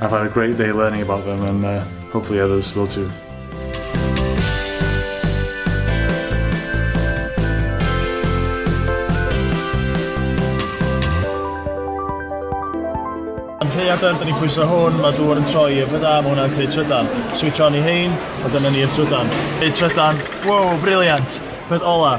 I've had a great day learning about them and uh, hopefully others will too. Amheuadau, dyn ni'n pwyso hwn, mae dŵr yn troi i'r fydda, mae hwnna'n creu trydan. Switch on i hein, a dyna ni'r trydan. Creu trydan, wow, briliant! Peth ola,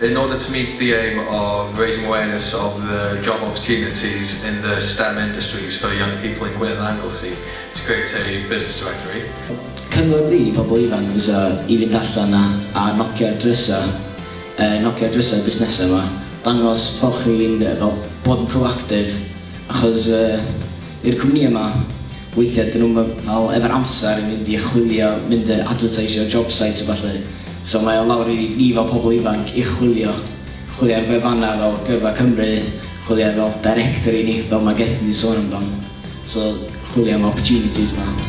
In order to meet the aim of raising awareness of the job opportunities in the stem industries for young people in Gwynedd and Anglesey to create a business directory. Cynghori pobl ifanc fysa i fynd allan a a nocia'r drysau, yy nocia'r drysau busnesau 'ma, dangos bo' chi'n fel bod yn proactive achos yy I'r cwmni yma. Weithiau dyn nhw'm fel efo'r amser i fynd i chwilio, mynd i adfyrteisio job sites a ballu. So mae o lawr i ni fel pobl ifanc i chwilio. Chwilio ar wefannau fel Gyrfa Cymru, chwilio ar fel directory ni, fel mae Gethin 'di sôn amdan. So chwilio am opportunities 'ma.